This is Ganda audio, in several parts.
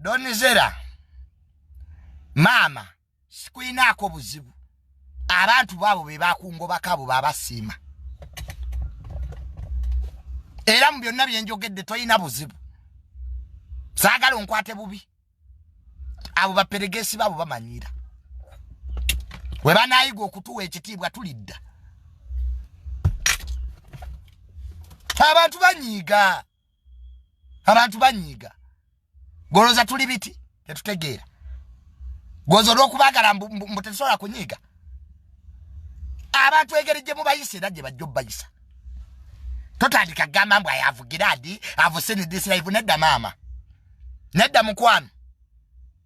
donizera maama sikulinaako buzibu abantu baabo be bakungobako abo babasiima era mu byonna byenjogedde tolina buzibu saagala onkwate bubi abo baperegesi baabo bamanyiira we banaayiga okutuwa ekitiibwa tulidda abantu banyiiga abantu banyiiga goloza tuli biti tetutegeera goza olwokubagala mbu tetusobola kunyiiga abantu engeri gye mubayisa era gye bajja obubayisa totandika kugamba mbu ayavugira adi avuse nedisiraivu nedda maama nedda mukwano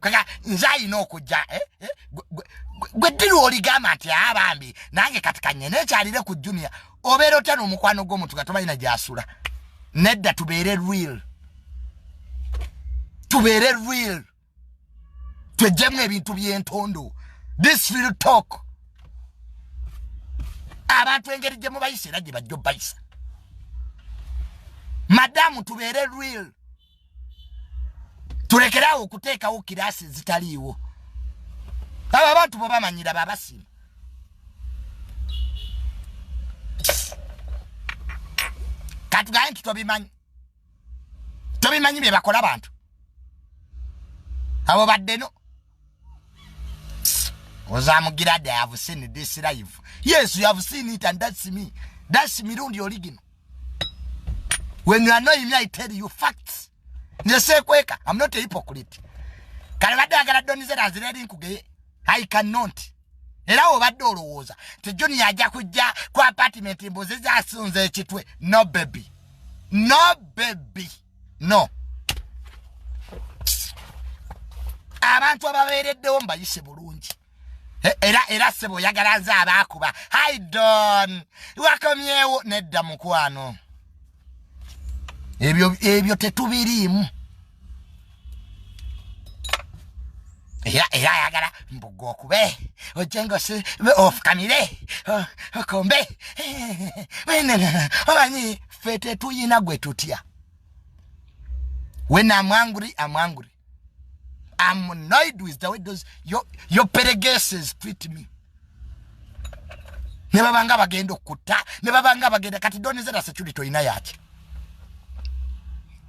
kaka nze alina okujja eh, eh, gwe ddiru oligamba nti aa ah, bambi nange kati kanye nekyalire ku junia obeera otya n'omukwano gw'omuntu nga tomanyi na gyasula nedda tubeere real tubeere real twejjemu ebintu by'entondo this real talk abantu engeri gye mubayisa era gye bajja obayisa madamu tubeere real tulekeraawo okuteekawo kiraasi ezitaliiwo abo abantu bwe bamanyira babasiima katugaye nti tobimanyi tobimanyi bye bakola bantu abo baddeno ozamugira da have seen this life yes you have seen it and that's me that's mirundi original when you annoy me i tell you facts nesekweka i'm not a hypocrite kale badde agala donizera azireri nkugeye i cannot era obadde olowooza ti junior ajja kujja ku apartment mbuzi zasunza ekitwe no baby no baby no abantu ababeereddewo mbayise bulungi e, era era sebo oyagala nze abaakuba haidon wakomyewo nedda mukwano ebyo ebyo tetubiriimu era era ayagala mbuga okube ojengosi ofukamire okombe omanyi ffe tetuyina gwe tutya when am angry am angry am annoyed with the way those your, your peregeses treat me ne babanga bagenda okutta ne babanga bagenda kati donizera security olina yaki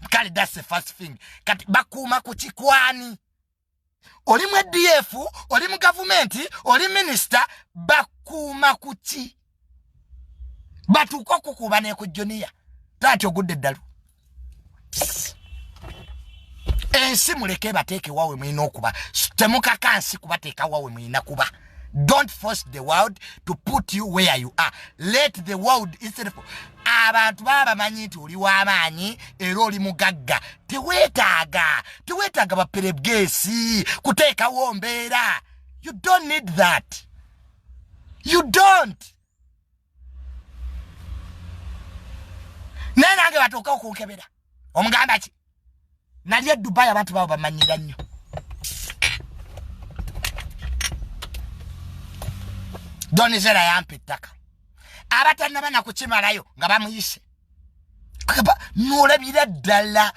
kale that's the first thing kati bakuuma ku kikwani oli mu edf oli mu gavumenti oli minisita bakuuma ku ki batuuka okukuuba neku juniya taati ogudde eddalu ensi muleke ebateeke wawe mulina okuba temukakansi kubateeka wawe mulina kuba don't force the world to put you where you are let the world itself abantu baba bamanyi nti oli w'amaanyi era oli mugagga teweetaaga teweetaaga baperebgeesi kuteekawo mbeera you don't need that you don't naye nange batuuka okunkebera omugamba ki nali e dubai abantu babo bamanyira nnyo donizera yampa ettaka abatanaba nakukimalayo nga bamuyise akaba nolabira ddala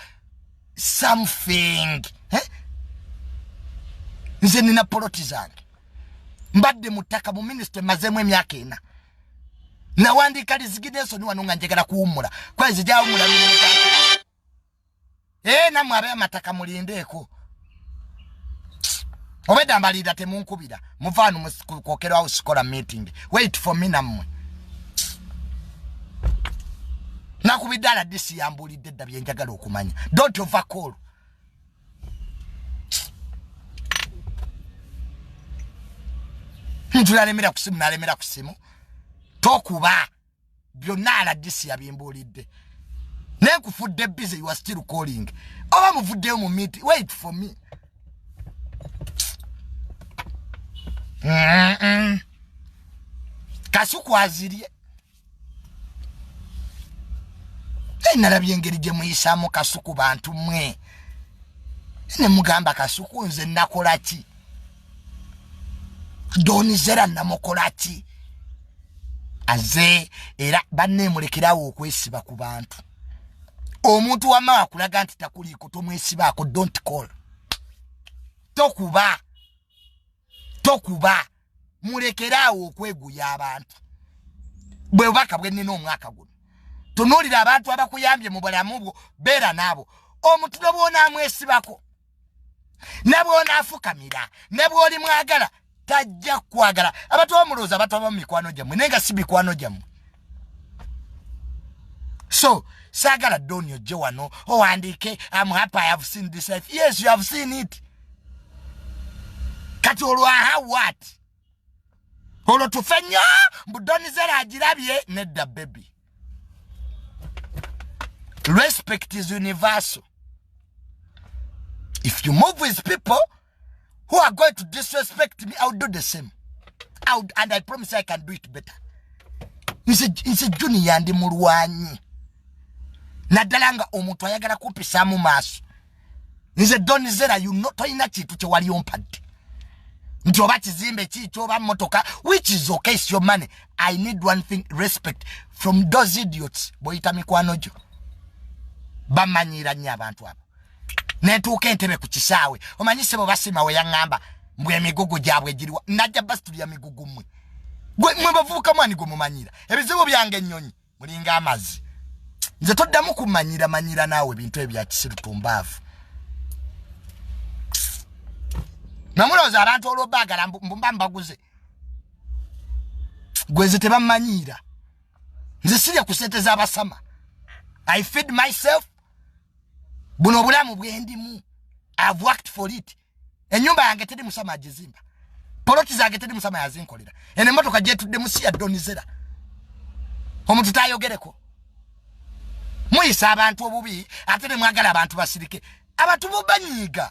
something eh? nze nina poloti zange mbadde mu ttaka mu minisita emazeemu emyaka ena nawandiika liziginesoni wano nga njagala kuwummula kwezi gyawummula ee namwe abe amataka mulindeeko obedda mbalinda temunkubira muvaanu kwokerwawo sikola meeting wait for me namwe nakubidde aladisi yambuulidde dda byenjagala okumanya dont ovacol ntunalemera kusimu nalemera kusimu tokuba byonna aladisi yabimbuulidde naye kufudde busy you are still calling oba muvuddeyo mu meet wait for me mm -mm. kasuku azirye naye nalabye engeri gye muyisaamu kasuku bantu mwe ne mugamba kasuku nze nakola ki donizera namukola ki aze era banneemulekerawo okwesiba ku bantu omuntu wama akulaga nti takuliiko tomwesibaako dont call tokuba tokuba mulekeraawo okweguya abantu bwe bubaka bwe nnina omwaka guno tunuulira abantu abakuyambye mu bulamu bwo beera naabo omutulo bwonaamwesibako ne bw'onaafukamira ne bw'oli mwagala tajja kukwagala abantu bamulowooza bataba mu mikwano gyammwe naye nga si mikwano gyammwe so saagala doni ojje wano owandiike am happy i have seen this life yes you have seen it kati olwaha wat olwo tufe nnyo mbudonizera agirabye nedda bebi respect is universal if you move with people who are going to disrespect me iwill do the same I'll, and i promise i can do it better nsi juniya ndi mulwanyi naddala nga omuntu ayagala kumpisaamu maaso nze don zera you know toyina kintu kyewali ompadde nti oba kizimbe kiikyo oba motoka which is okay is your money i need one thing respect from those idiots boyita mikwano gyo bamanyira nnyo abantu abo netuuka entebe ku kisaawe omanyi sebo basima we yaŋŋamba mbwe emigugu gyabwe giriwa najja basitulya migugu mmwe mwe bavubuka mwani gwe mumanyira ebizibu byange ennyonyi mulinga amazi nze toddamu kumanyira manyira naawe ebintu ebyo byakisiru tumbaavu namulowooza abantu olwobaagala mbumba mbaguze gweze tebamanyiira nze sirya ku sente z'abasama i feed myself buno obulamu bwendimu ive worked for it enyumba yange teri musama ajizimba poloti zange teri musama yazinkolera eno emotoka gyetudde musi ya donizera omuntu tayogereko muyisa abantu obubi ate nemwagala abantu basirike abantu bubanyiiga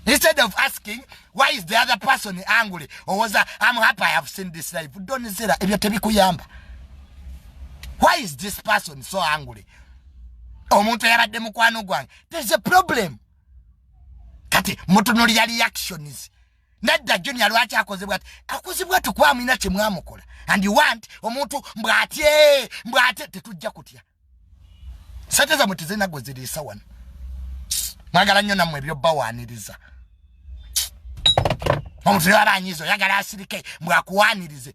instead of asking why is the other person angry owoza am happy i have seen this life donizera ebyo tebikuyamba why is this person so angry omuntu eyabadde mukwano gwange there's a problem kati mutunulira reactions nedda junior lwaki akozebwa ti akozebwa tukwamulina kyemwamukola and you want omuntu mbwatye mbwate tetujja kutya sente zamwe tezirina gwe ziriisa wano mwagala nnyo nammwe ebyobawaaniriza omuntu yaba anyiza oyagala asirike mbwakuwaanirize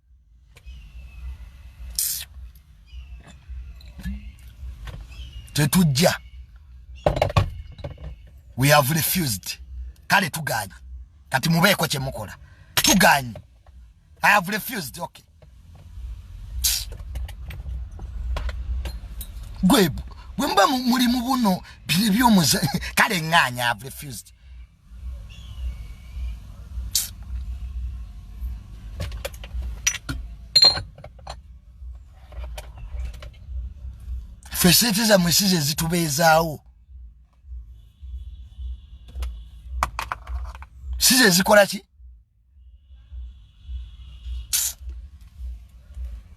tetujja we have refused kale tuganye kati mubeeko kyemukola tuganye i have refused okay gwe bwemuba muli mubuno byebyomuzanyo kale nganya i have refused fe sente zamwe size ezitubeezaawo size ezikola ki